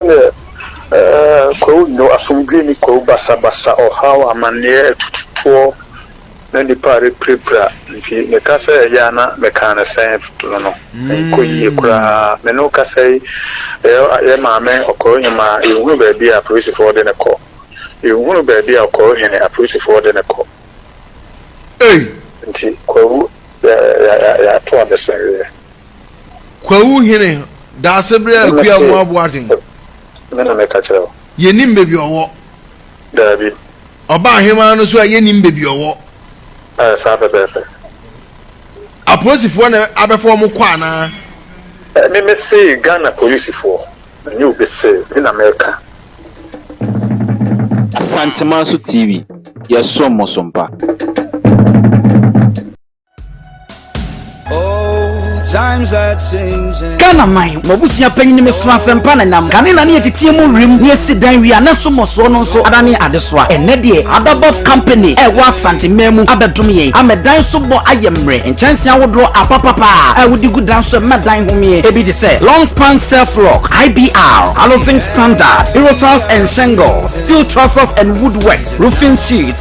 Ɛɛ Kwawu Nyo, Asomdwoe Nni Kwawu Basabasa, Ɔhaw, Amanneɛ, Atututoɔ na Nnipa a Repirapira Nti Meka sɛ Ɛyɛ a na Mekaa no Sɛn no no Ɛnkɔ Yie Koraa Me ne wo kasa yi Yɛ Maame Ɔkɔrɔnyimaa Yɛnhunu Baabi a Apolisifoɔ De No Kɔ Yɛnhunu Baabi a Ɔkɔrɔhene Apolisifoɔ De No Kɔ Nti Kwawu Yɛato Adesɛeɛ. Kwawu hene, Daasebrɛ Akua Mu Aboaden. Me na meka kyerɛ wo. Yɛnim baabi ɔwɔ. Daabi. Ɔba ahemaa no so a yɛnim baabi ɔwɔ. Ɛɛ saa pɛpɛɛpɛ. Apolisifoɔ na abɛfa wɔn kɔ anaa? Me me se Ghana polisifoɔ. Ɛnyɛ obi se, me na meka. Asantemanso TV, yɛsom mo so mpa. ghana man mo abusua panyin ne mesoro asɛmpa na nam kane na ne yɛteteɛ mu wim ne yɛsi dan wia na nso mmɔsoɔ no nso adane adesoa ɛnɛ deɛ adabɔf company a ɛwɔ asante mmaa mu abɛdom yɛn ama dan so bɔ ayɛ mmerɛ nkyɛnse ahodoɔ apapapa a wode gu dan so ɛma dan homeɛ ebi te sɛ long span self lock ibr housing standard erotiles and shingles steel trusses and woodworks roofing sheets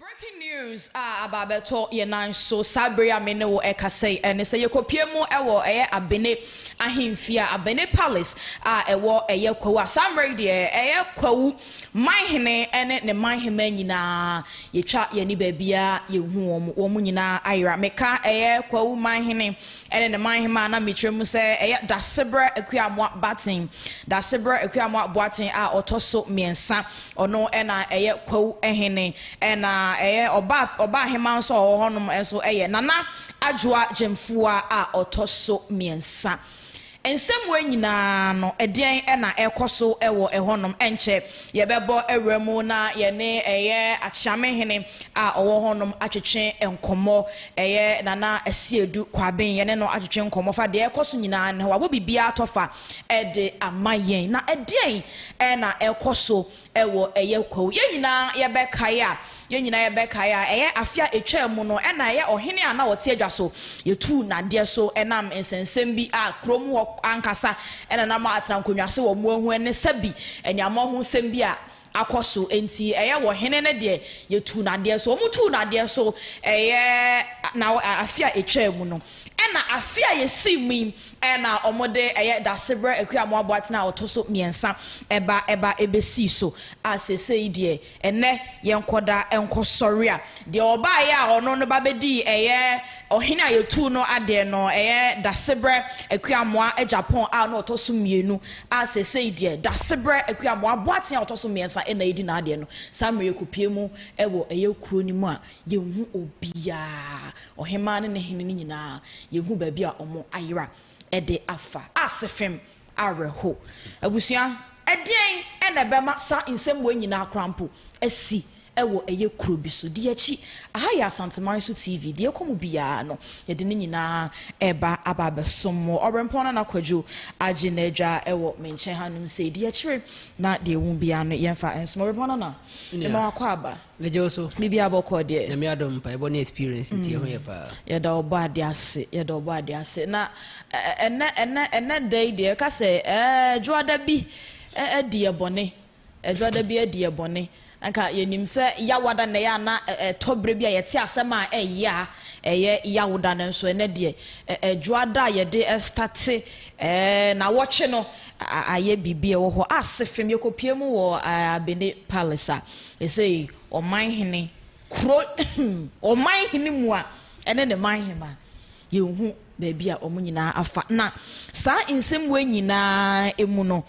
Breaking news a aba abɛtɔ yɛn nan so saa bere yi a me ne wo rekasa yi, ɛne sɛ yɛkɔpue mu wɔ ɛyɛ Abene ahemfie a, Abene Palace a ɛwɔ ɛyɛ Kwawu a saa mmerɛ yi deɛ ɛyɛ Kwawu manhene ne ne manhema nyinaa yɛtwa yɛn ani baabiara yɛhu wɔn, wɔn nyinaa ayera. Meka ɛyɛ Kwawu manhene ɛne ne man hemmaa na mekyerɛ mu sɛ ɛyɛ Dasebrɛ Akuamoah Baten, Dasebrɛ Akuamoah Boaten a ɔtɔ so mmiɛnsa, ɔno na ɛyɛ Kwawu hene, ɛna ɛyɛ ɔba ɔba hemmaa nso a ɔwɔ hɔnom nso yɛ Nana Adwoa Gyamfua a ɔtɔ so mmiɛnsa. Nsɛmmoa nyinaa no, ɛdeɛn na ɛrekɔ so wɔ ɛhɔnom? Ɛnkyɛ yɛbɛbɔ awura mu na yɛne ɛyɛ Akyeamehene a ɔwɔ hɔnom atwetwe nkɔmmɔ. Ɛyɛ Nana Asiedu Kwaben, yɛne no atwetwe nkɔmmɔ fa deɛ ɛrekɔ so nyinaa ne ho. Wabɔ biribiara tɔfa de ama yɛn. Na ɛdeɛn na ɛrekɔ so wɔ ɛyɛ kwawu. Yɛn nyinaa yɛbɛkae a, yɛn nyinaa yɛbɛkae a, ɛyɛ afe a ɛtwaa mu no na ɛyɛ ɔhene a na ɔte adwa so. Yɛtuu nnadeɛ so nam nsɛnsɛm bi a kurom hɔ ankasa na na wɔatra nkonnwa ase wɔ mmoa ho ne sɛbi aniammɔn ho nsɛm bi a akɔ so nti, ɛyɛ wɔ hene no deɛ yɛtuu nnadeɛ so. Wɔtuu nnadeɛ so ɛyɛ na afe a ɛtwaa mu no na afe a yɛsii mu yi. na wɔde ɛyɛ Dasebrɛ Akuamo Aboaten a ɔtɔ so mmiɛnsa ba ba bɛsii so a seesei deɛ ɛnnɛ yɛn nkɔda nkɔsɔre a deɛ ɔbaeɛ a ɔno no ba bɛdii ɛyɛ ɔhene a yɛtuu no adeɛ no ɛyɛ Dasebrɛ Akuamoa Agyapong a na ɔtɔ so mmienu a seesei deɛ Dasebrɛ Akuamoa Aboaten a ɔtɔ so mmiɛnsa na ɛdi n'adeɛ no saa mmerɛ yɛkɔpie mu wɔ ɛyɛ kuro no mu a Yɛnhu obiara, ɔhemmaa ne ne hene no nyinaa, yɛnhu baabi a wɔn ayera de afa. Ase fem, awerɛho. Abusua, ɛdeɛn na ɛbɛma saa nsɛm wei nyinaa koraa mpo asi wɔ ɛyɛ kuro bi so? Di akyi, aha yɛ Asanteman so TV, deɛ ɛkɔ mu biara no, yɛde ne nyinaa reba aba abɛsom mo. Ɔberempɔn Nana Kwadwo agye n'adwa wɔ me nkyɛn hanom sei. Di akyire na deɛ ɛwom biara no, yɛmfa nsom. Ɔberempɔn Nana, mema wakɔ aba. Megye wo so. Bibi abɔkɔ deɛ. Nyame adom mpaebɔ ne experience nti ɛho yɛ paa. Yɛda ɔbɔ ade ase yɛda ɔbɔ ade ase na ɛnɛ ɛnɛ ɛnɛ da yi deɛ ɛka sɛ ɛɛ dwoada bi adi yɛ bɔne ɛdwoada bi adi yɛ bɔne nka yɛnim sɛ yawada na ɛyɛ ana ɛtɔ berɛ bi a yɛte asɛm a ɛyɛ a ɛyɛ yawoda no nso ɛnɛ deɛ ɛdwoada a yɛde ɛstate ɛɛ na wɔtwe no ayɛ biribi ɛwɔ hɔ ase fam yɛkɔpie mu wɔ Abene Palace a Ɛsei ɔman hene kuro ɔman hene mu a ɛne ne man hema yɛnhu baabi a wɔn nyinaa afa na saa nsɛm wei nyinaa mu no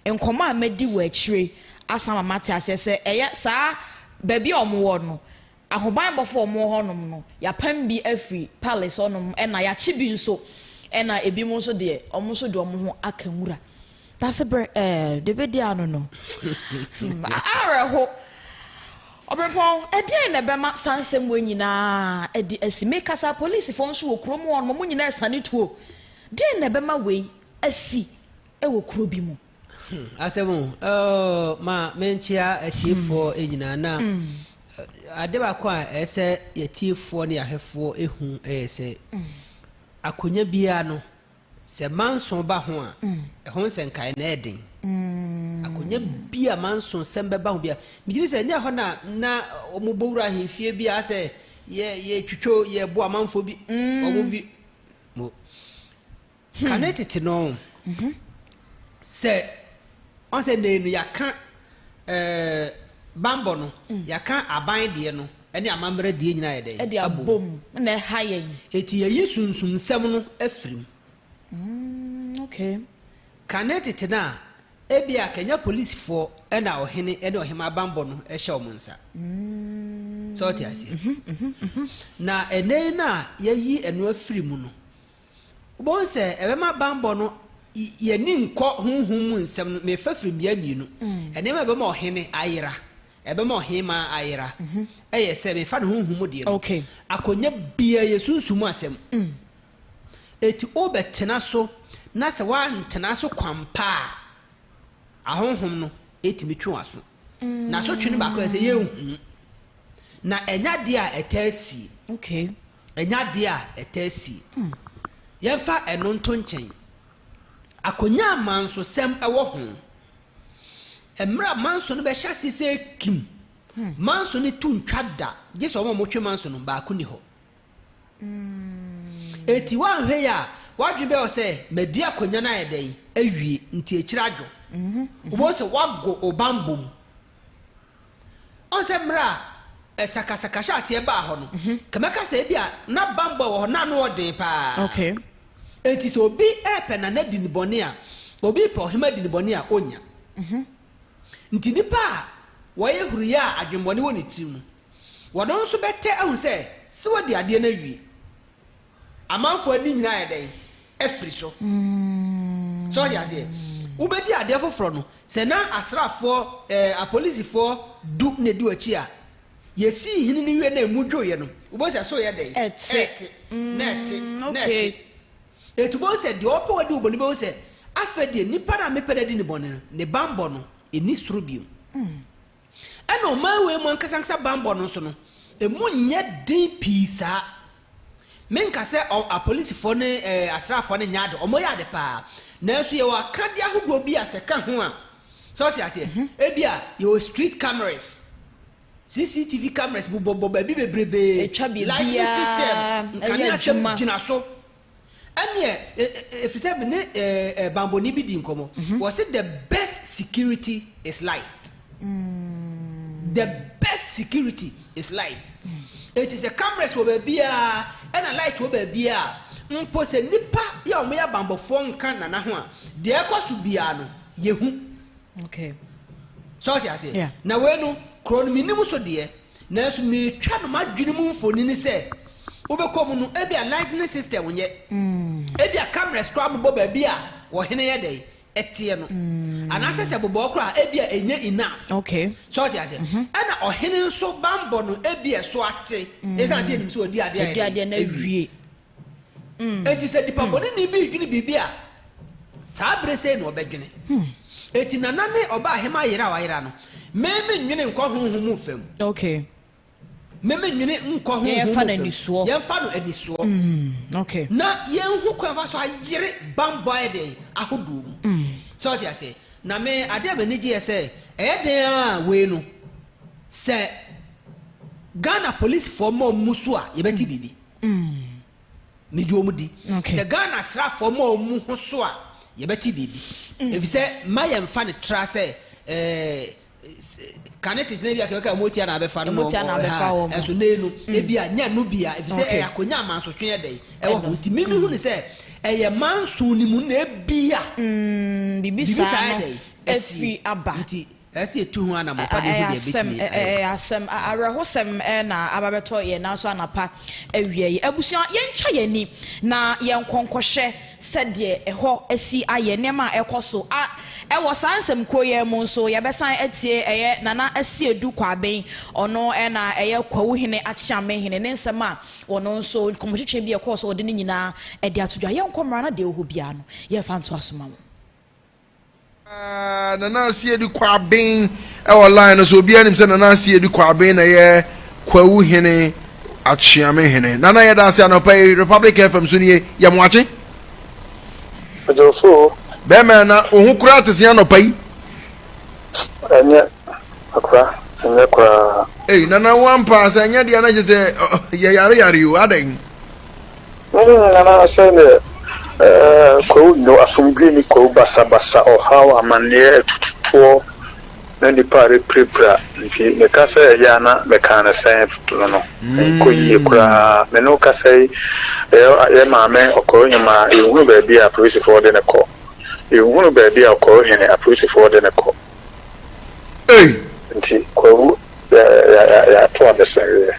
nkɔmɔ a madi wɔ akyire asan ma mate aseɛ sɛ ɛyɛ saa baabi a wɔn wɔ no ahobanbɔfo wɔn wɔ hɔnom no yɛapam bi afiri palace hɔnom ɛna yɛakye bi nso ɛna ebi mu nso deɛ wɔn nso de wɔn ho aka nwura Dase bere ɛɛ de bɛ di ano no. Awerɛho. Ɔbrempɔn, ɛdeɛn na ɛbɛma saa nsɛm wei nyinaa adi asi? Mekasa, polisifo nso wɔ kurom hɔ nom, wɔn nyinaa asiane tuo. Deɛn na ɛbɛma wei asi wɔ kuro bi mu? Hmm, asɛm o. Oh, ma menkyea atiefoɔ hmm. nyinaa na hmm. ade baako a ɛyɛ sɛ yɛtiefoɔ ne yɛahwɛfoɔ ɛhu ɛyɛ sɛ akonnwa biara no Sɛ Manso ba ho a, ɛho nsɛnkae na ɛyɛ den. Akonnwa bi a Manso nsɛm bɛba ho bia, megye di sɛ ɛnyɛ hɔ na na wɔbɔ wura ahemfie bi a sɛ yɛ yɛ twitwo yɛ bo amanfoɔ bi wɔn vi mo. Kane tete no sɛ wɔn sɛ nɛɛ no yɛaka ɛɛ bambɔ no yɛaka aban deɛ no. ne amambra die nyina ayɛ dɛn? De abɔ mu. Abom na ɛha yɛn. Enti yɛyi Sunsum nsɛm no firi mu. Mm, okay. Kane tete no a, ebia kanya polisfoɔ na ɔhene ne ɔhemaa bambɔ no hyɛ wɔn nsa. Mm. Sɛ ɔte aseɛ? Mm-hmm, mm-hmm, mm-hmm. Na ɛnɛ yi no a yɛyi ɛno afiri mu no, Wobɛhu sɛ ɛbɛma banbɔ no y ani nkɔ honhom mu nsɛm no ma ɛfa firi mmea mmienu. Nneɛma a ɛbɛma ɔhene ayera, ɛbɛma ɔhemaa ayera, yɛ sɛ mefa no honhom mu deɛ no, akɔnya biara yɛ sunsum mu asɛm. Enti wobɛtena so, na sɛ woantena so kwampa a, ahonhom no tumi twe w'aso. Na asotwe no baako yɛ sɛ yɛnhu. Na ɛnyɛ adeɛ a ɛtaa sie. Ɛnyɛ adeɛ a ɛtaa sie. Yɛmfa ɛno nto nkyɛn. Akonnwa a mansosɛm wɔ ho. Mmerɛ a manso no bɛhyɛ aseɛ sɛ kim, manso no to ntwa da, gye sɛ wɔn a wɔtwe manso no baako nni hɔ. Enti woanhwɛ yie a, w'adwene bɛyɛ wo sɛ, madi akonnwa no ayɛ dɛn awie, nti akyire adwo. Wobɛhu sɛ woago wo banbɔ mu, Ɔn sɛ mmerɛ a sakasaka hyɛ aseɛ baa hɔ no, nka mɛka sɛ ebia na banbɔ a ɛwɔ hɔ no ano yɛ den pa ara. Enti sɛ obi repɛ nana di no bɔne a, obi repɛ ɔhemmaa di no bɔne a, ɔnnya. Nti nnipa a wɔyɛ huruiɛ a adwemmɔne wɔ ne tirim no, wɔn nso bɛtɛ ahu sɛ, sɛ wadi adeɛ no awie. Amanfoɔ ani nyinaa ayɛ dɛn? Afiri so. So ɔte aseɛ? Wobɛdi adeɛ foforɔ no, sɛ na asraafoɔ, eh, apolisifoɔ du na ɛdi w'akyi a, yɛsii hene no wie na ɛmu dwoeɛ no, wobɛhu sɛ so reyɛ dɛn? Ɛte. Ɛte, na ɛte, na ɛte. Enti wobɛhu sɛ deɛ ɔpɛ wadi wo bɔne bɛhu sɛ, afei deɛ nipa no a mepɛ no adi no bɔne no, ne banbɔ no, ɛnni soro bio. Ɛnna ɔman wei mu ankasa ankasa bammɔ no nso no, emu nyɛ den pii saa. Menka sɛ ɔ, apolisifoɔ ne ɛ, asraafoɔ no nyɛ ade, wɔyɛ ade paa. Nanso yɛwɔ akadeɛ ahodoɔ bi a sɛ ɛka ho a, sɛ wote aseɛ, ebia yɛwɔ street cameras, CCTV cameras bobɔbobɔ baabi bebrebee, Ɛtwa biribiara lightning system, yɛ nkaneasɛm adwuma. gyina so. Ɛneɛ ɛfisɛ me ne banbɔni bi dii nkɔmmɔ, ɔse the best security is light. The best security is light. Enti sɛ cameras wɔ baabiaa ɛna light wɔ baabiaa a, mpo sɛ nnipa yi a wɔyɛ abanbɔfoɔ nka Nana ho a, deɛ ɛkɔ so biaa no, yɛhu. So wote aseɛ? Na wei no, kuro no menim so deɛ, Nanso meretwa no m'adwene mu mfonini sɛ wobɛkɔ mu no, ebia lightning system nyɛ, ebia cameras koraa bobɔ baabi a ɔhene yɛ dɛn? ɛteɛ no. Anaasɛ sɛ bobɔɔ koraa a, ebia ɛnyɛ enough. Okay. So ɔte aseɛ? Mhm. Ɛna ɔhene nso bammɔ no ebia ɛso ate, ɛsiane sɛ yɛnim sɛ ɔdi adeɛ a Ɔdi yɛ adeɛ dɛn? no awie. Enti sɛ nipabɔneni bi redwene biribi a, saa bere sei na ɔbɛdwene. Enti Nana ne ɔbaahema yere a wayera no, me mennwene nkɔ honhom mu fam. Okay. Me mennwene nkɔ honhom mu fam. Yɛmfa no anisoɔ. Yɛmfa no anisoɔ. Okay. Na yɛnhu kwan fa so ayere bammɔ ayɛ den ahodoɔ mu. Sɛ ɔte aseɛ? Na me adeɛ a m'ani gye yɛ sɛ ɛyɛ den a wei no sɛ Ghana polisifoɔ ma wɔn mu so a yɛbɛte biribi. Megye wɔn di. Sɛ Ghana asraafoɔ ma wɔn ho so a, yɛbɛte biribi. Efisɛ mma yɛmfa no tra sɛ kane tete no ebia kɛkɛ a wɔretia na abɛfa no. Wɔretia na abɛfa wɔn. Ɛso na enu ebia nya no bia efisɛ ɛyɛ akonya amansotwe ɛdɛ ɛwɔ ho nti mimi hu no sɛ ɛyɛ manso ne mu na ebia biribi saa ɛdɛ ɛfiri aba. Ɛsɛ sɛ yɛtu ho anammɔn pa de hu deɛ ɛbɛtumi ayɛ. Ɛyɛ asɛm. Awerɛhosɛm na aba abɛtɔ yɛn nan so anapa awia yi. Abusua, yɛntwa yɛn ani na yɛnkɔ nkɔhwɛ sɛdeɛ ɛhɔ asi ayɛ, nneɛma a ɛrekɔ so. Wɔ saa nsɛmkuo yi ara mu nso, yɛbɛsan atie ɛyɛ Nana Asiedu Kwaben, ɔno na ɛyɛ Kwawu Hene Akyeame Hene, ne nsɛm a ɔno nso, nkɔmmɔtwetwe bi a ɛkɔɔ so a ɔde ne nyinaa de ato dwa. Yɛnkɔ mmra na deɛ ɛwɔ hɔ biara no, yɛmfa ntoa so mma mo. Aah Nana Asiedi Kwaben wɔ line no so obiara nim sɛ Nana Asiedi Kwaben na yɛ Kwawu Hene Akyeame Hene Nana yɛda ase anɔpa yi Republic FM so nie yɛ mo akye. Ɔdwofo. Bɛɛma na wo ho koraa te se anɔpa yi. Ɛnyɛ akora ɛnyɛ koraa. Ei Nana wo ampa sɛ ɛnyɛ deɛ na kyɛ sɛ yɛ yare yare o adɛn. Hom nyinara sɛ dɛ kwawu nyew asomdwee nye kwawu basabasa, ɔhaw, amanneɛ, atututoɔ, na nnipa a repirapira nti, meka sɛ ɛyɛ a na mekaa no sɛn no no nnkɔ yie koraa. Me ne wo kasa yi, yɛ maame Ɔkɔrɔhim a, yɛnhunu baabi a apolisifoɔ de no kɔ. Yɛnhunu baabi a Ɔkɔrɔhene apolisifoɔ de no kɔ. Ei! Nti kwawu, yɛato adesɛeɛ.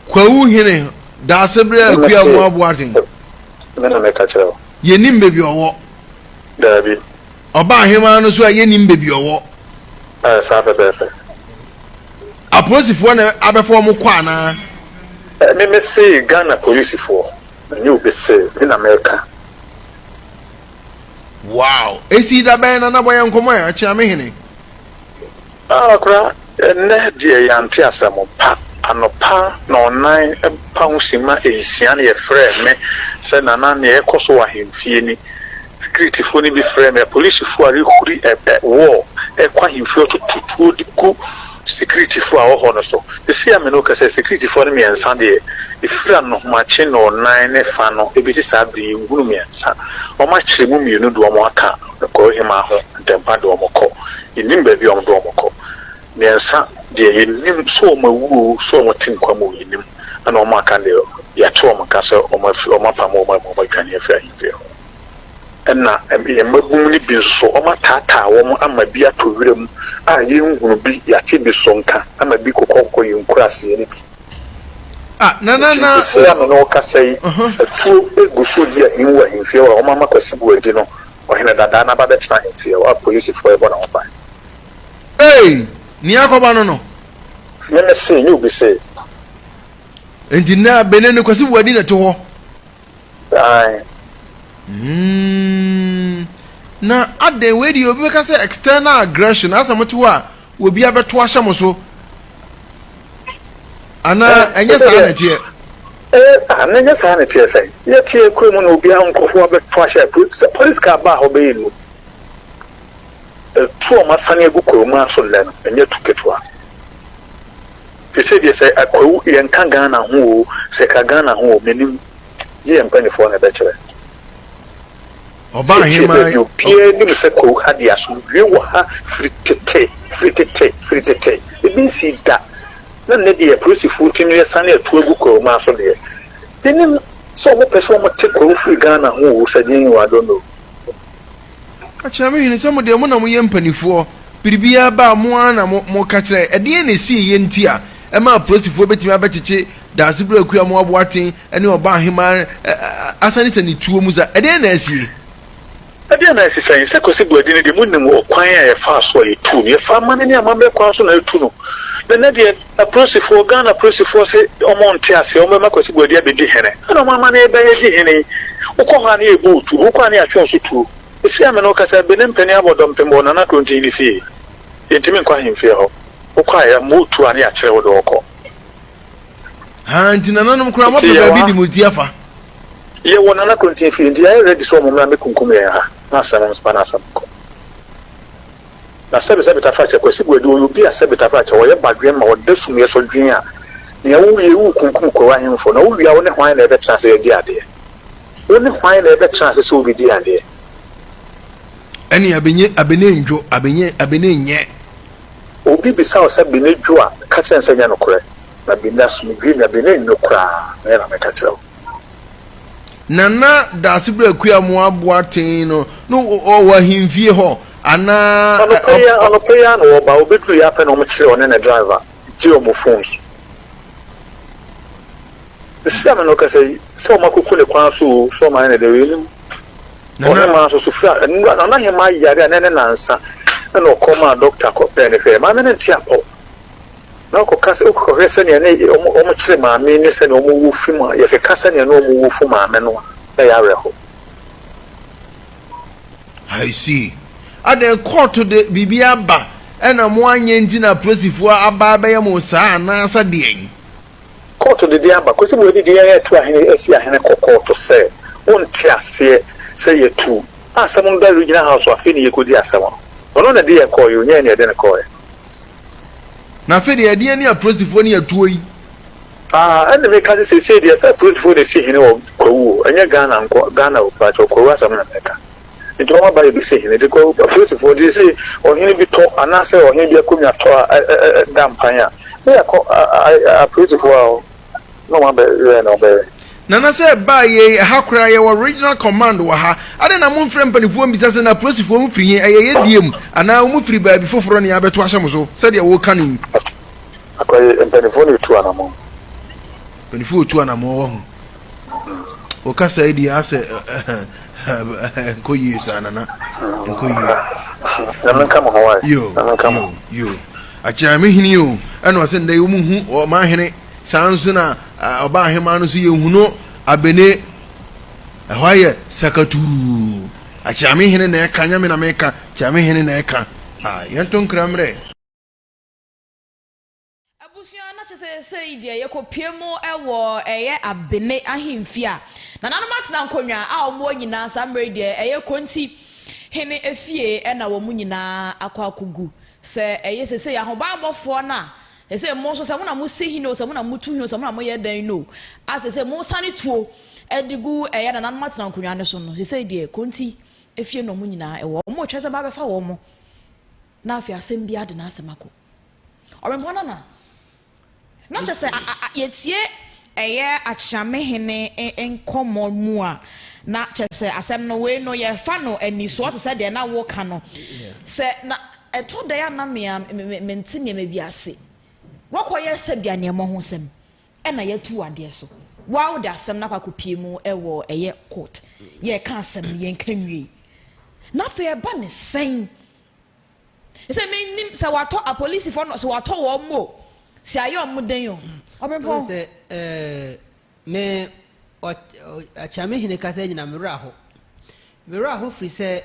Kwawu Hene, Daasebrɛ Ɛna Akua se, Amoah Boateng. Me na mɛka kyerɛ wo. Yɛnim baabi ɔwɔ. Daabi. Ɔba ahemaa no so a yɛnim baabi ɔwɔ. Ɛɛ, saa pɛpɛɛpɛ. Apolisifoɔ na abɛfa wɔn kɔ anaa? Ɛɛ, me mese Ghana polisifoɔ, ɛnyɛ obi se, me na mɛka. Wow! Ɛsii da bɛn na na bɔ yɛn nkɔmmɔ ɛ, Akyeame Hene? Ara koraa, ɛnnɛ deɛ yɛante asɛm pa. Anɔpa nnɔnnan pa ho simma nsia no yɛfrɛɛ me sɛ Nana nea ɛrekɔ so wɔ ahemfie ni. Sikiritifoɔ no bi frɛɛ me apolisifoɔ a rehuri ɛpɛ wɔɔ ɛrekɔ ahemfie ɔtoto tuo de gu sikiritifoɔ a wɔwɔ hɔ no so. Seesei a me ne wo kasa yi sikiritifoɔ no mmiɛnsa deɛ ɛfiri anohomakye nnɔnnan ne fa no ɛbɛsi saa berɛ yi nhunu mmiɛnsa. Wɔakyere mu mmienu de wɔn aka Nokware hemmaa ho ntɛmpa de wɔn kɔ. Yennim baabi a wɔde wɔn kɔ. Mmiɛnsa deɛ, yennim sɛ wɔawu oo, sɛ wɔte nkwa mu oo, yennim. Ɛna wɔn a wɔaka no deɛ, yɛate wɔn nka sɛ wɔafi, wɔapamo wɔn amu, wɔadwane afi ahemfie hɔ. Ɛna yɛn mmabun no bi nso so, wɔataataa wɔn ama bi atɔ wuram a yenhunu bi, yɛate bi so nka, ama bi kokɔkokɔ yɛn nkuraase no bi. Ah, na na na. Esi a me ne wo kasa yi, atuo gu so redi ahimu wɔ ahemfie hɔ a wɔama Kwasi Boadi no ɔhene dadaa no aba abɛtena ahemfie hɔ a polisifo rebɔ ne ho ban. Ei! Nea akɔba no no. Me me se, nyɛ obi se. Enti nnɛ Benin no Kwasi Boadi na ɛte hɔ. Aye. Hmm. Na adɛn wei deɛ obi bɛka sɛ external aggression asɛ mote hɔ a obi abɛto ahyɛ mo so anaa eh, ɛnyɛ saa na ɛteɛ eh, ah, na ɛnyɛ saa na ɛteɛ sɛ yɛteɛ kura mu na obi nkurɔfoɔ abɛto ahyɛ polisi kaa baa hɔ bɛyɛ nu ɛtu ɔma sane agu kɔɔ mu aso nnɛ no ɛnyɛ tu ketewa Te sɛ deɛ sɛ Akwawu yɛnka Ghana ho oo, sɛ ɛka Ghana ho oo, mennim. Gye yɛn mpaninfoɔ na ɛbɛkyerɛ. Setie baabi obiara nim sɛ Kwawu ha deɛ asomdwoeɛ wɔ ha firi tete, firi tete, firi tete. Ebi nsii da. Na nnɛ deɛ apolisifoɔ tumi asane atu agu Kwawu-mmaa so deɛ, mennim sɛ wɔpɛ sɛ wɔte Kwawu firi Ghana ho oo, Sajinho, I don't know. Ka kyerɛ me hwene sɛ mo deɛ mo na moyɛ mpanifoɔ, biribiara ba a mo ara na mo mo ka kyerɛ, ɛdeɛn na ɛsii yɛ nti a ɛma apolisifoɔ bɛtumi abɛkyekye Daasebire Akua Moaboaten ne Ɔbaa Hemaa asane sɛ ne tuo mu sa, ɛdeɛn na asie? Ɛdeɛn na asi sɛn sɛ Kwasi Boadi no deɛ monim ɔkwan a yɛfaa so a yɛtuu no, yɛfaa amane ne amammerɛ kwan so na yɛtu no, na ɛnnɛ deɛ Apolisifoɔ, Ghana Apolisifoɔ se wɔn nte aseɛ, wɔn bɛma Kwasi Boadi abɛdi hene. Ɛna wɔn ama no reba redi hene yi, wokɔ hɔ a ne yɛbɔ wo tuo, wokɔ a ne yɛatwe wo so tuo. Seesei a me ne wo kasa yi, Benin panin abɔ dɔmpem wɔ Nana Kronti hene fie. Yɛntumi nkɔ ahemfie hɔ. Wokɔ a yɛmmɔ wo tuo a ne yɛakyere wo de wo kɔ. Haa nti nananom koraa Enti wɔpɛ yɛwɔ baabi ha, de mo ti afa. yɛwɔ Nana Kronti fie, nti yɛayɛ ready sɛ wɔn mmra mmɛkunkum yɛn ha, na asɛm, wɔn nso ma no asɛm nkɔ. Na sɛbe sɛbe tafrakyɛ Kwasi Boadu ɔyɛ obi a sɛbe tafrakyɛ ɔyɛ badwen ma ɔda sum yɛ sɔ dwen a nea wo wie wo kunkum Kwawu ahemfo na wo wie a wo ne hwan na ɛbɛtra ase adi adeɛ wo ne hwan na ɛbɛtra ase sɛ wo bɛ di adeɛ. Ɛne abenye abene ndwo abenye abene nyɛ. Obi bisa wo sɛ bene dwo a ka kyerɛ no sɛ nyɛ nokorɛ na bene asomdwie nya bene nnwo koraa na yɛ na mɛka kyerɛ wo. Nana Daasebra Akua Moa Boateng no no ɔwɔ ahemfie hɔ anaa? Anɔpa yi ara anɔpa yi ara na wɔba. Wɔbɛdurui ara pɛ na wɔkyeree ɔne ne driver gyee wɔn phones. Sisi a me ne wo kasa yi, sɛ wɔakɔku no kwan so oo, sɛ wɔayɛ no dɛn oo, yɛnnim. Ɔhemaa nso so, firi a nnora Nana Hemaa yare a na ɛne nansa na ɔkɔɔ maa dɔkta kɔpɛɛ no hwɛɛ. Maame no nte apɔ. Na ɔkɔka sɛ, wokɔhwɛ sɛnea na wɔkyere maame ne sɛnea wɔwo fi mu a, yɛkeka sɛnea na wɔwo fu maame no a, na ɛyɛ awerɛhow. I see. Adɛn, kɔɔto de biribi aba ɛna moanyɛ nti na apolisifoɔ aba abɛyɛ mo saa anaasɛ deɛn? Kɔɔto de deɛ aba. Kwesi Boadi de yɛn atu ahene asi ahene kɔ kɔɔto sɛ wonte aseɛ sɛ yɛatu asɛm no da Regional House so afei na yɛkɔdi asɛm no. Ɔno na ɛde yɛn kɔeɛ o, nyɛ yɛn na yɛde no kɔeɛ. Na afei deɛ ɛdeɛn ne Apolisifoɔ ne atuo yi? Ah ɛnna meka sɛ seesei deɛ ɛsɛ apolisifoɔ na ɛsi hene wɔ Kwawu o, ɛnyɛ Ghana nko, Ghana o, mpakyɛw Kwawu asɛm na meka. Nti wɔn aba yɛbɛsi hene de Kwawu apolisifoɔ nti seesei ɔhene bi tɔ anaasɛ ɔhene bi akonnwa tɔ a ɛ ɛ ɛda mpan a ne yɛakɔ a a apolisifoɔ a wɔ na ɔma bɛ yɛɛ na ɔbɛyɛ. Nana sɛ ɛbaa yei, ɛha koraa yɛwɔ regional command wɔ ha, adɛn na momfrɛ mpanifoɔ mmisa sɛ na apolisifoɔ no firi he, ɛyɛ yɛdeɛ mu, anaa wɔn firi baabi foforɔ ne abɛto ahyɛ mo so, sɛdeɛ woreka no yi? Akwayi, mpanifoɔ na ɛtu anamɔn. Mpanifoɔ ɔtu anamɔn, wahu. Wo kasa yi deɛ asɛ ɛnkɔ yie saa, Nana, ɛnkɔ yie. Nyame nka mo ho wae, Nyame nka mo ho. Akyea me hene o, ɛna ɔse ndɛ yi ɔmo hu ɔman hene, saa nso na ɔbaa aheman no nso yɛ hu no abene, ɛhɔ ayɛ sakaturuu, akyea me hene na ɛka, nyɛ me na meka, kyea me hene na ɛka, ah yɛn to nkra mmerɛ. Abusua na kyɛ sɛ sɛi deɛ yɛkɔ pue mu wɔ ɛyɛ abene ahemfie a nananom atena nkonnwa a wɔn wɔ nyinaa saa mmerɛ yi deɛ ɛyɛ konti hene efie ɛna wɔn nyinaa akɔ akɔ gu Sɛ ɛyɛ seesei, ahobammɔfoɔ no a seesei mo nso, sɛ mo na mosi hene o, sɛ mo na motu hene o, sɛ mo na moyɛ dɛn no o, a seesei mosane tuo de gu ɛyɛ nananom atena nkonnwa no so no, seesei deɛ Konti efie no wɔn nyinaa ɛwɔ hɔ, wɔretwɛn sɛ moabɛfa wɔn, na afei asɛm biara de n'asɛm akɔ Ɔwɛmfoɔ Nana. Na kyerɛ sɛ yɛtie ɛyɛ Akyame hene nkɔmmɔ mu a, na kyerɛ sɛ asɛm no wei no yɛfa no anisoɔ te sɛ deɛ na woka no. Sɛ na ɛtɔ da a na me a mente nneɛma bi ase. Woakɔyɛ sɛ bi a nea ɛmmɔ ho sɛm ɛna yɛatu wo adeɛ so. Woa wode asɛm no akɔ akɔpie mu wɔ ɛyɛ court. Yɛreka asɛm no yɛnka nwiei. Na afei ɛba ne sɛn? Sɛ mennim sɛ wɔatɔ apolisifo no, sɛ wɔatɔ wɔn o, sɛ ayɛ wɔn den o. Ɔbɛmpɔn. Sɛ me Akyame Hene kasa nyina me werɛ ho. Me werɛ ho firi sɛ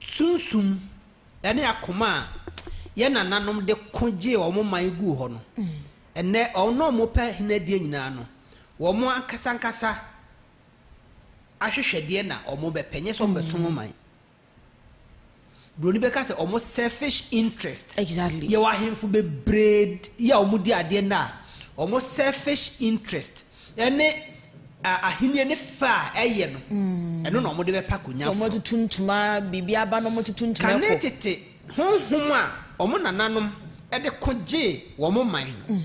sunsum ne akoma a yɛ nananom de ko gyee wɔn man guu hɔ no, ɛnɛ wɔn a wɔpɛ hene adie nyinaa no, wɔn ankasa ankasa ahwehwɛdeɛ na ɔmo bɛpɛ nyɛ sɛ ɔmo bɛ som ɔman broni bɛka sɛ ɔmo selfish interest exactly yɛwɔ ahemfo bebree yi a ɔmo di adeɛ na ɔmo selfish interest ɛne ahenni ne fɛ a ɛyɛ no mm. ɛno na ɔmo de bɛpa konya foro ɔmo tutu ntoma biribi aba na ɔmo tutu ntoma ɛkɔ kane tete honhom a ɔmo nananom ɛde ko gye wɔn man no mm.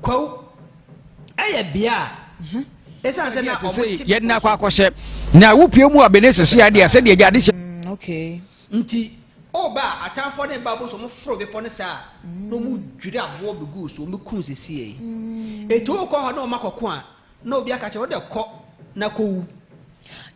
Kwawu yɛ bea a ɛsiane sɛ na wɔte bepɔ yɛde na akɔ akɔhyɛ na wopue mu a bene sese adeɛ a sɛdeɛ agya de hyɛ mm, okay. nti ɔba a atamfoɔ ne ba bɔ so wɔn foro bepɔ no saa na wɔn dwiri aboɔ bɛgu so wɔn bɛkum sese yi mm. etu kɔ hɔ na wɔn akɔko a Na obi aka kyerɛ wode kɔ na kowu.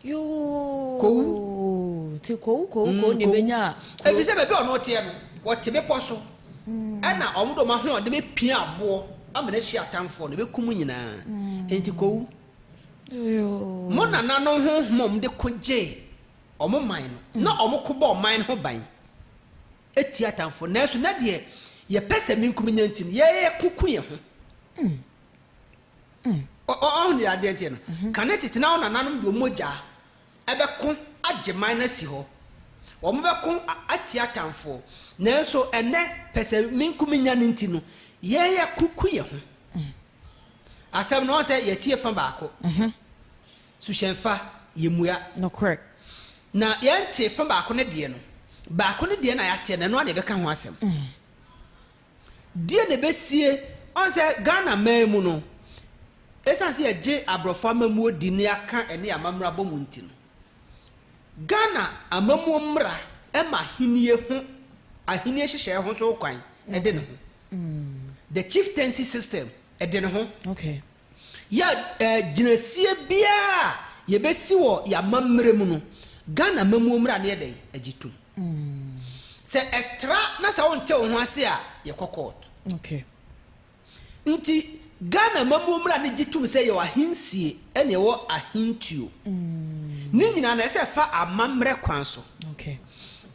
Yoo. Kowu. Ti kowu kowu mm, kowu na ebenya. Efisɛ baabi a ɔno teɛ no, wɔte bepɔ so. Mm. Ɛna wɔn de wɔn ahoɔden bepia aboɔ ama no ahyi atamfoɔ no bekum nyinaa. Mm. Enti kowu. Mo nananom honhom a wɔde ko gyee wɔn man no, na wɔn ko bɔ ɔman no ho ban etia atamfoɔ. Nanso na deɛ yɛpɛ sɛ menkum nya nti no, yɛyɛ kuku yɛn ho. Ɔn, ɔn deɛ adeɛ teɛ no, kane tete no awo nananom de wɔn mogya bɛko agye man no asi hɔ. Wɔbɛko atia atamfoɔ. Nanso ɛnnɛ, pɛsɛmenkominya no nti no, yɛn yɛko ku yɛn ho. Asɛm no, wɔn sɛ yɛtie fa baako. Suhyɛn fa, yɛmmua. Nokorɛ. Na yɛnte fa baako no deɛ no, baako no deɛ na yɛateɛ no, ɛno ara na yɛbɛka ho asɛm. Deɛ na ɛbɛsie, ɔhu sɛ Ghana man mu no, ɛsiane sɛ yɛgye aborɔfo amammuo di na yɛaka ɛne amammerɛ abɔ mu nti no, Ghana amammuo mmara ma ahennie ho, ahennie nhyehyɛeɛ ho nso hokwan de ne ho. The chieftaincy system de ne ho. Yɛ eh, gyinasie biara a yɛbɛsi wɔ yɛn amammerɛ mu no, Ghana amammuo mmara no yɛ dɛn agye tom. Sɛ ɛtra na sɛ wonte wo ho ase a, yɛkɔ kɔɔto. Nti Ghana amammuo mmara no gye tom sɛ yɛwɔ ahensie ɛna yɛwɔ ahentuo. Ne nyinaa no ɛsɛ ɛfa amammerɛ kwan so.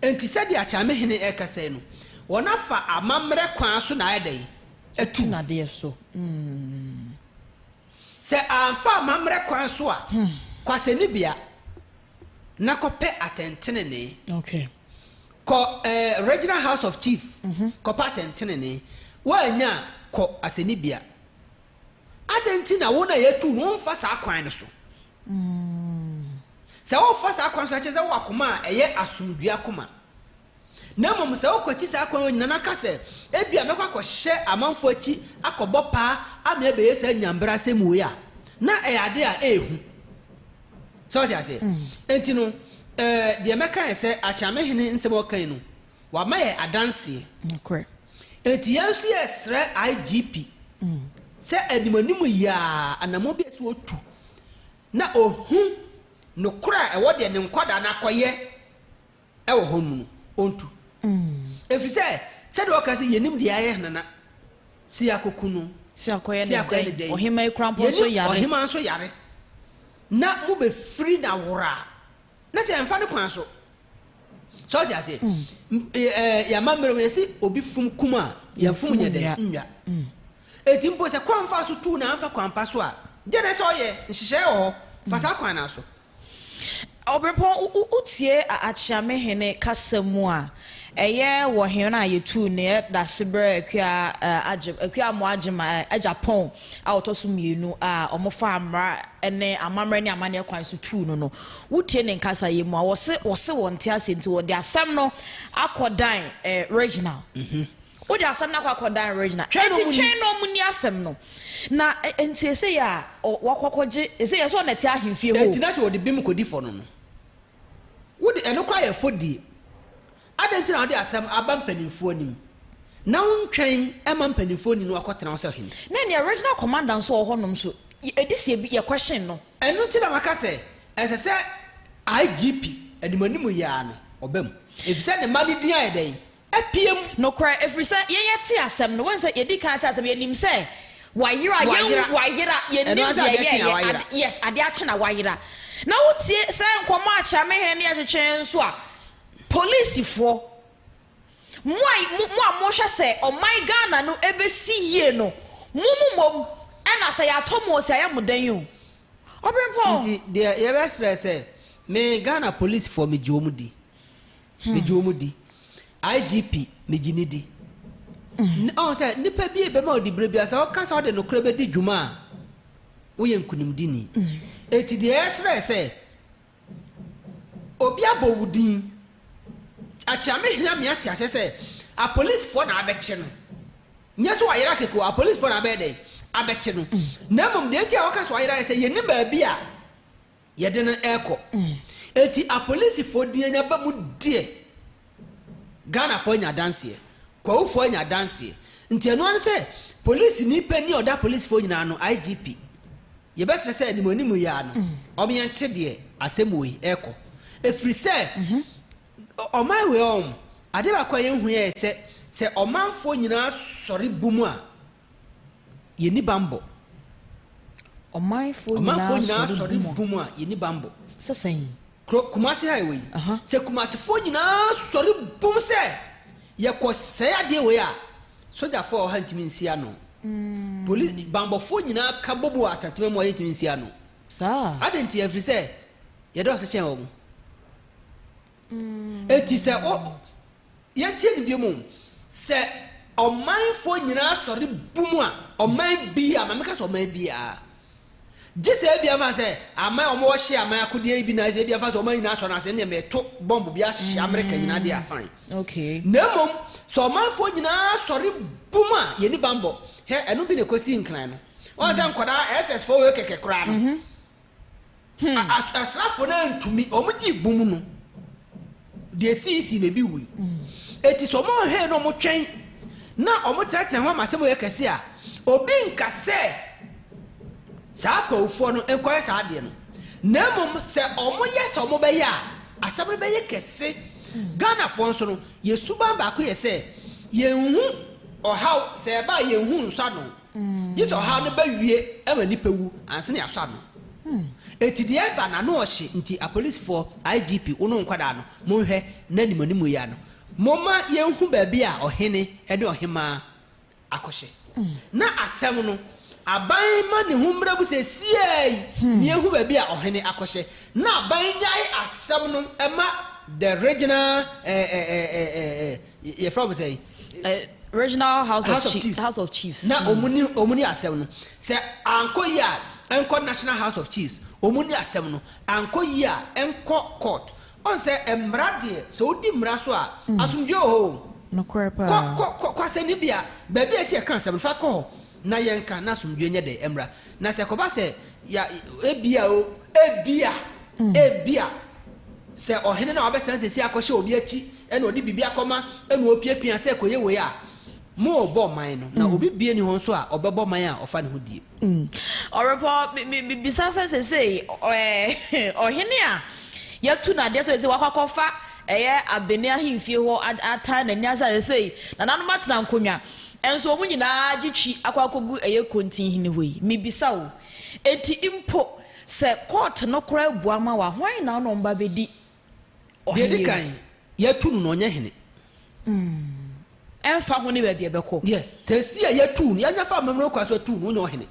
Nti sɛdeɛ Akyame hene rekasa yi no, wɔn afa amammerɛ kwan so na ayɛ dɛn? Atu. Atu no adeɛ so. Sɛ amfa amammerɛ kwan so a, kɔ asɛnnibea na kɔpɛ atɛntenenee. Kɔ Regional House of Chief kɔpɛ atɛntenenee. Woannya a, kɔ asɛnnibea. Adɛn nti na wo na yɛatu ho mfa saa kwan no so? Sɛ wofa saa kwan no so a, ɛkyerɛ sɛ wowɔ akoma a ɛyɛ asomdwoe akoma. Na mmom sɛ wokwati saa kwan yi nyinaa na ka sɛ, 'Ebia mɛkɔ akɔhyɛ amanfo akyi akɔbɔ paa ama ɛbɛyɛ saa nyanbrasɛm wei a, na ɛyɛ ade a ɛyɛ hu. So wote aseɛ? Enti no, ɛɛ, deɛ mɛka ne sɛ, Akyeame Hene nsɛm a ɔka yi no, wama yɛn adanseɛ. Nokorɛ. Enti yɛn nso yɛresrɛ IGP sɛ animanim yi ara anammɔn bi a ɛsɛ sɛ ɔtu na ɔhu nokorɛ a ɛwɔ deɛ ne nkwadaa no akɔyɛ. wɔ hɔ no mu no, ɔntu. Ɛfiri sɛ, sɛdeɛ wɔka sɛ, yɛnnim deɛ ayɛ Nana Siakoku no, Siakɔyɛ ne Siakɔyɛ ne dɛn, dɛn, ɔhema Ekura mpo nso yɛnnim yare. ɔhema nso yare, na mobɛfiri no awora a, na kyerɛ ɛmfa ne kwan so. Sɛ wote aseɛ? M- e- ɛ, Yɛn amammerɛ mu yɛse obi fom kum a, yɛn fom nyɛ dɛn? Nnwa. Enti mpo sɛ kwan fa so tuu no a, amfa kwan pa so a, deɛ na ɛsɛ sɛ ɔyɛ? Nhyehyɛeɛ wɔ hɔ, fa saa kwan no ara so. Ɔberempɔn, wo wo tie a Akyeamehene kasa mu a, ɛyɛ wɔ hɛn a yetuu ne yɛ dase berɛ Akua a Agye, Akua Amoah Agye ma ɛ, Agya Pɔn a ɔtɔ so mmienu a wɔfaa mmara ne amammerɛ ne amanneɛ kwan so tuu no no. Wo tie ne nkasayɛ mu a, wɔse, wɔse wɔnte aseɛ nti wɔde asɛm no akɔdan ɛ, Reginald. Wode asɛm no akɔ akɔdan Regina. Twɛn na ɔmu ni. Enti twɛn na ɔmu ni asɛm no. Na enti esei a wakɔ akɔgye, esei yɛ sɛ ɔna ɛte ahemfie hɔ o. Enti na sɛ ɔde bem kɔdi fɔ no no, wode ɛno koraa yɛ fɔdie. Adɛn nti na wode asɛm aba mpaninfoɔ anim? Na wontwɛn ma mpaninfoɔ ni na wakɔtena hɔ sɛ ɔhene? Na ɛneɛ Regina Commander nso wɔ hɔnom nso, ɛdesɛ yɛ yɛ question no. Ɛno nti na maka sɛ ɛsɛ sɛ IGP animanimu yi ara no ɔba mu. Efisɛ ne mma no din ayɛ dɛn? apue mu. Nokorɛ, ɛfiri sɛ yɛn yɛte asɛm no, wɔn sɛ yɛdi kan te asɛm, yɛnim sɛ wɔayera, yɛn wɔayera, yɛnim deɛ ɛyɛɛyɛ, ade, yes, adeɛ akye na wɔayera. Na wotie saa nkɔmmɔ a Kyerɛmehene no yɛ twetwe nso a, polisifoɔ, mo a, mo a mohwɛ sɛ ɔman Ghana no ɛbɛsi yie no, mo mo mmom ɛna sɛ yɛatɔ mo ɔsi a yɛ mo dɛn o? Ɔberempɔn. Nti deɛ yɛbɛsrɛ sɛ, me Ghana polisifoɔ megye wɔn di, megye wɔn di igp megye ne di ɔn sɛ nipa bi ebɛma ɔdi bere bi sɛ ɔka sɛ ɔde nokorɛ bɛdi dwuma a woyɛ nkunimdini eti deɛ ɛsrɛ sɛ obi abɔ wo din akyea me hena me ate aseɛ sɛ apolisifoɔ na abɛkye no nyɛ sɛ wayera keko apolisifoɔ na abɛyɛ dɛn abɛkye no na mmom deɛ nti a wɔka so ayera yɛ sɛ yɛnim baabi a Yɛde no rekɔ. Enti apolisifoɔ din anya ba mu deɛ, Ghanafoɔ anya adanseɛ, Kwahufoɔ anya adanseɛ. Nti ɛno ara ne sɛ, polisini panin a ɔda apolisifoɔ nyinaa ano, IGP, yɛbɛsrɛ sɛ anim anim yi ara no, ɔma yɛnte deɛ asɛm wei rekɔ. Ɛfiri sɛ, ɔman wei ɔɔm, adeɛ baako a yɛnhunuiɛ yɛ sɛ, sɛ ɔmanfoɔ nyinaa sɔre bɔ mu a, Yɛnni bammɔ. Ɔmanfoɔ nyinaa asɔre bɔ mu a, yɛnni bammɔ. Sɛ sɛn? Kuro Kumasi ha wɔ yi. Sɛ Kumasifoɔ nyinaa sɔre bɔ mu sɛ yɛkɔsɛe adeɛ wei a, sogyafoɔ a wɔ ha ntumi nsi ano. Poli bammɔfoɔ nyinaa ka bɔ mu wɔ Asantema mu a yɛntumi nsi ano. Adɛn nti? Ɛfiri sɛ yɛdɔɔso kyɛn wɔn. Enti sɛ o, yɛntie no biom o, sɛ ɔmanfoɔ nyinaa sɔre bum a, ɔman biaa, ma meka sɛ ɔman biaa, gye sɛ ebia mfa sɛ aman a wɔwɔ hye aman akodeɛ yi bi na ebia mfa sɛ ɔman nyinaa sɔre no ase, ɛnneɛ meto bɔmbo bi ahye Amerika nyinaa deɛ a, fine. Okay. Na mmom, sɛ ɔmanfoɔ nyinaa sɔre bum a, yɛnni bammɔ. Hɛ, ɛno bi na ɛkɔsii Nkran no. Woahu sɛ nkwadaa, SS foɔ wei kɛkɛ koraa no, Hmm. A- asrafo no antumi wɔn gye bum no deɛ siisi na ebi wui eti sɛ wɔn nhwɛ na wɔn twɛn na wɔn tenatena ho ama asɛm yɛ kɛse a obi nka sɛ saa akɔwfoɔ no nkɔyɛ saa adeɛ no na mmom sɛ wɔn yɛ sɛ wɔn bɛyɛ a asɛm no bɛyɛ kɛse ghanafoɔ nso no yɛ suban baako yɛ sɛ yɛn ho ɔhaw sɛ ɛba a yɛn ho nsa no. gye sɛ ɔhaw no bɛwie ma nipa wu ansa na yɛasɔ ano. Enti deɛ ɛba no ano ɔhye nti apolisifoɔ, IGP, wo ne wo nkwadaa no monhwɛ na nim anim yi ano. Momma yɛnhu baabi a ɔhene ne ɔhemmaa akɔhyɛ. Na asɛm no aban ma ne ho mmra mu seesei yi na yɛnhu baabi a ɔhene akɔhyɛ na aban nnyae asɛm no mma the regional eh, eh, eh, eh, eh, eh. yɛfrɛ wɔn sɛ. Eh, regional house, house of, of chiefs house of chiefs na wɔn ni wɔn ni asɛm no sɛ ankɔ yi a nkɔ national house of chiefs wɔn ni asɛm no ankɔ yi a nkɔ court wɔn sɛ mmara deɛ sɛ wodi mmara so a mm. asomdwe wɔ hɔ o. nokorɛ paa kɔ kɔ kɔ asɛnni bi a baabi a ɛsɛ yɛka asɛm no fa kɔ hɔ na yɛnka, na asomdwoeɛ nyɛ dɛ mmra. Na sɛ ɛkɔba sɛ ya, ebia o, ebia, ebia, sɛ ɔhene no a wabɛtena seesei akɔhyɛ obi akyi, ɛna ɔde biribi akɔma, ɛna ɔrepiapia sɛ kɔyɛ wei a, morebɔ man no, na obi bie nni hɔ nso a ɔbɛbɔ man a ɔfa ne ho die. Ɔrepɔ, me, me, mebisa sɛ seesei, ɛɛ, ɔhene a yɛatu no adeɛ sɛ seesei wakɔ akɔfa ɛyɛ Abene ahemfie hɔ a, ataa n'ani ase a seesei nananom atena nkonnwa, Nso wɔn nyinaa gye twi akɔ akɔgu ɛyɛ Kontinhene hɔ yi. Mebisa wo, enti mpo sɛ kɔɔte no koraa bua ma wo a, hwan na ɔne wɔn ba bɛdi Deɛ ɛdi ɔheneɛ kan, yɛatu no na ɔnyɛ hene. mu? Ɛmfa ho ne baabi a ɛbɛkɔ. Deɛ, seesei a yɛatu no, yɛanya fa amammerɛ kwan so atu no, ɔnyɛ ɔhene.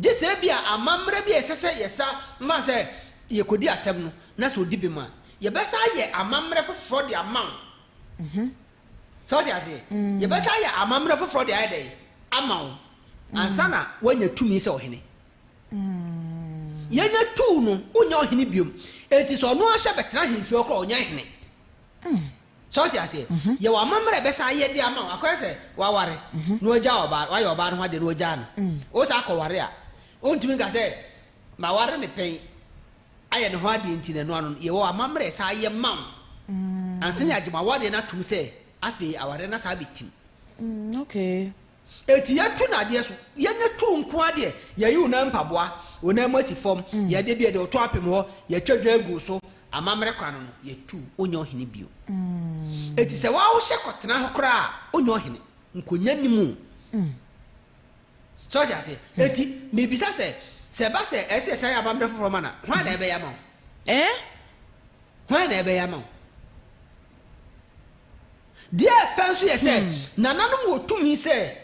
Gye sɛ ebia amammerɛ bi a ɛsɛ sɛ yɛsa ma sɛ yɛkɔdi asɛm no, na sɛ ɔdi bem a, yɛbɛsan ayɛ amammerɛ foforɔ de ama wo. So wote aseɛ? Yɛbɛsan ayɛ amammerɛ foforɔ de ayɛ dɛn? Ama wo, ansa na woanya tumi sɛ ɔhene. Yɛnya tuu no, wonyɛ ɔhene bio. Enti sɛ ɔno ahyɛ bɛtena ahemfie hɔ koraa a, ɔnyɛ hene. So wote aseɛ? Yɛwɔ amammerɛ a ɛbɛsan ayɛ de ama wo. Akɔyɛ sɛ woaware, na woagya ɔbaa, woayɛ ɔbaa no ho adeɛ na woagyaa no. Wosan kɔware a, wontumi nka sɛ, Maware no pɛn. ayɛ ne ho adeɛ nti no, ɛno ano no, yɛwɔ amammerɛ saa yɛ ma wo ansa na yɛagye mo awadeɛ no atom sɛ afei awadeɛ no asan abɛtim. Mm, okay. Eti yɛtu no adeɛ so, yɛnyɛ tu nko ara deɛ, yɛyi wo nan mpaboa, wo nan mu asi fam, mm. yɛde bi yɛde ɔtɔ apem hɔ, yɛtwa dwan gu so, amammerɛ kwan no no, yɛtu, wonyɛ ɔhene bio. Mm. Eti sɛ wawohyɛ kɔtena hɔ koraa a, wonyɛ ɔhene, nkonya ni mu. Mm. So ɔte aseɛ? Enti mebisa sɛ, sɛ ɛba sɛ ɛsɛ sɛ yɛsan yɛ amammerɛ foforɔ ma no a, hwan na ɛbɛyɛ ama wo? Ɛɛ? Hwan na ɛbɛyɛ ama wo? Deɛ ɛfɛ nso yɛ sɛ, nananom wɔ tumi sɛ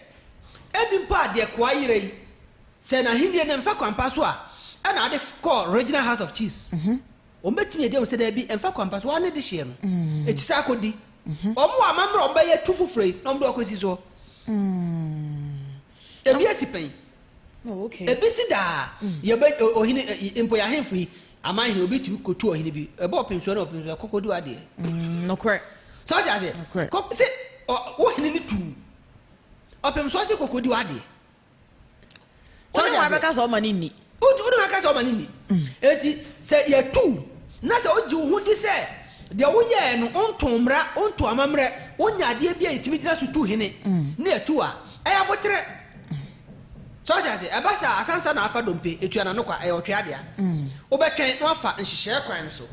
ebi mpo a deɛ koa yera yi, sɛ n'ahennie no mfa kwan pa so a, ɛna ade kɔ Regional House of Chiefs. Wɔbɛtumi agya wo sɛ daabi, ɛmfa kwan pa so, woa ne dehyeɛ no, ɛti saa kɔdi. Wɔn wɔ amammerɛ a wɔbɛyɛ tu foforɔ yi na wɔde wo akɔsi soɔ. Ɛbi asi pɛn, ɛbi si daa. Yɛbɛ, ɔhene, mpo yɛ ahemfo yi, aman hene, obi tumi kɔtu ɔhene bi, ɛbɔ ɔpemsoɔ ne ɔpemsoɔ, ɛkɔ kɔdi w'adeɛ. Nokorɛ. Sɛ wote aseɛ? Kɔ, sɛ, ɔ, wo hene no tu wo, ɔpemsoɔ se kɔ kɔdi w'adeɛ. Wo ne wɔn abɛka sɛ ɔma no nni. Wo ne wɔn abɛka sɛ ɔma no nni. Enti sɛ yɛtu wo na sɛ wogye wo ho di sɛ deɛ woyɛɛ no, wontoo mmara, wontoo amammerɛ, wonyɛ adeɛ bi a yɛtumi gyina so tu hene na yɛtu wo a, ɛyɛ aboterɛ. So ate aseɛ? Ɛba saa a, asansa na afa dompe, etua n'ano kwa. Ɛyɛ ɔtwea dea. Wobɛtwɛn na wafa nhyehyɛɛ kwan no so.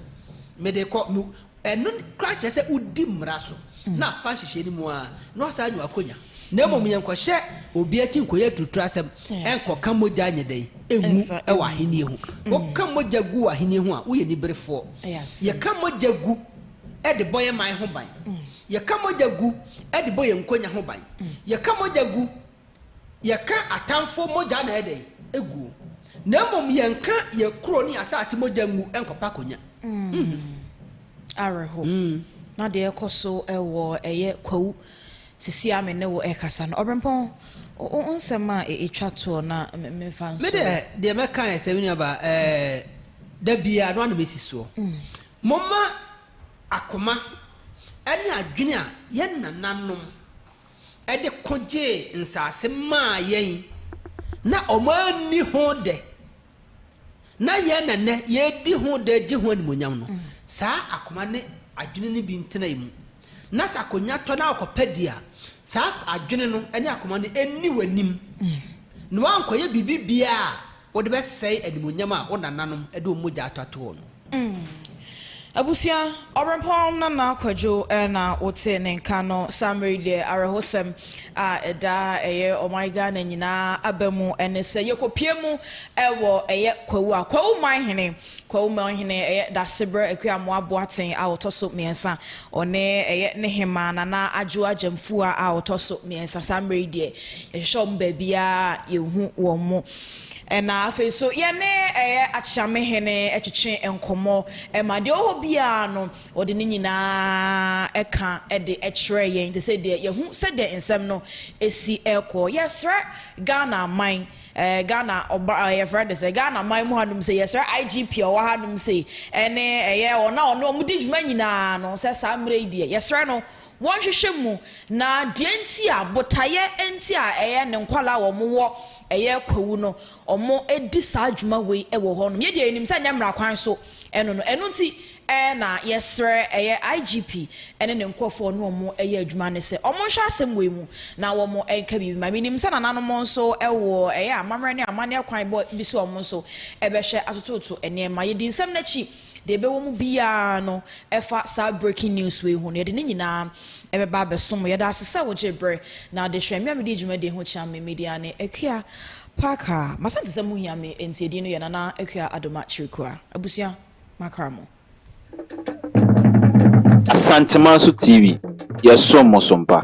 Mede kɔ, me, Ɛno koraa kyerɛ sɛ wodi mmara so na afa nhyehyɛe no mu ara na wasan anya w'akonya. Na mmom yɛnkɔhyɛ obi akyi nkɔyɛ aturuturasɛm nkɔka mogya nyɛ dɛn? ngu wɔ Ahenni ho. Woka mogya gu wɔ Ahenni ho a, woyɛ aniberefoɔ. Yɛka mogya gu de bɔ yɛn man ho ban. Yɛka mogya gu de bɔ yɛn nkonya ho ban. Yɛka mogya gu. yɛka atamfo mogya na ɛyɛ dɛn? Egu o. Na mmom yɛnka yɛn kuro ne yɛn asase mogya ngu nkɔpa akonya. Mm. Awerɛho. Mm. Na deɛ ɛkɔ so wɔ ɛyɛ kwawu sisi a me ne wo ɛkasa no ɔbrempɔn wo nsɛm a ɛtwa toɔ na mefa nso. Me deɛ deɛ mɛka yɛ sɛ me nuaba ɛɛ da biara no anam esi soɔ. Mm. Moma akoma ɛne adwene a yɛn nananom de ko gyee nsase maa yɛn na wɔanni ho dɛ, na yɛn na nnɛ yɛredi ho dɛ regye ho animuonyam no, saa akoma ne adwene no bi ntena yɛn mu. Na sɛ akonnwa tɔ na wokɔpɛ di a, saa adwene no ne akoma no nni w'anim, na woankɔyɛ biribi biara a Wode bɛsɛe animuonyam a wo nananom de wɔn mogya atɔtoo no. Mm. Abusua, Ɔberempɔn Nana Kwadwo na wote ne nka no saa mmerɛ yi deɛ awerɛhosɛm a ɛda ɛyɛ ɔman Ghana nyinaa aba mu ne sɛ yɛkɔpue mu wɔ ɛyɛ Kwawu a Kwawu Manhene Kwawu Manhene ɛyɛ Dasebrɛ Akuamoah Boateng a ɔtɔ so mmiɛnsa ɔne ɛyɛ ne hemaa Nana Adwo Agyamfua a ɔtɔ so mmiɛnsa saa mmerɛ yi deɛ yɛhwehwɛ wɔn baabiara yɛhu wɔn mo Na afei nso, yɛne ɛyɛ Akyeamehene twetwe nkɔmmɔ ma deɛ ɔwɔ hɔ biara no, ɔde ne nyinaa ka de kyerɛ yɛn te sɛ deɛ yɛhu sɛdeɛ nsɛm no si rekɔ. Yɛsrɛ Ghana man, ɛɛ Ghana ɔba ɛɛ yɛfrɛ no sɛ Ghana man mu hanom sɛ yɛsrɛ IGP a ɔwɔ hanom sɛ ɛne ɛyɛ wɔn a ɔne wɔn di dwuma nyinaa no sɛ saa mmerɛ yi deɛ yɛsrɛ no Wɔnhwehwɛ mu, na deɛ nti a, botaeɛ nti a ɛyɛ ne nkwadaa a wɔn wɔ ɛyɛ kwawu no, wɔn di saa dwuma wei wɔ hɔ nom. Yɛ deɛ yɛ nim sɛ nyɛ mmara kwan so ɛno no, ɛno nti ɛɛ na yɛ srɛ ɛyɛ IGP ɛne ne nkorɔfoɔ ɔne wɔn ɛyɛ adwuma no sɛ wɔn nhwɛ asɛm wei mu na wɔn nka biribi ma. Me nim sɛ nana nom nso ɛwɔ ɛyɛ amammerɛ ne amanneɛ kwan bɔ bi sɛ wɔn nso ɛbɛhwɛ atototo nneɛma. Yɛ di nsɛm no akyi. Deɛ ɛbɛwɔ mu biara no, ɛfa saa breaking news wei ho no, yɛde ne nyinaa ɛbɛba abɛso mo. Yɛda ase sɛ wogyee berɛ na adesua mmea medi dwumadie ho kyea me. Me dia ne Akua Parker. M'Asante sɛ mohia me nti edin no yɛ Nana Akua Adoma Kyirikua. Abusua, makra mo. Asanteman so TV, yɛsom mo so mpa.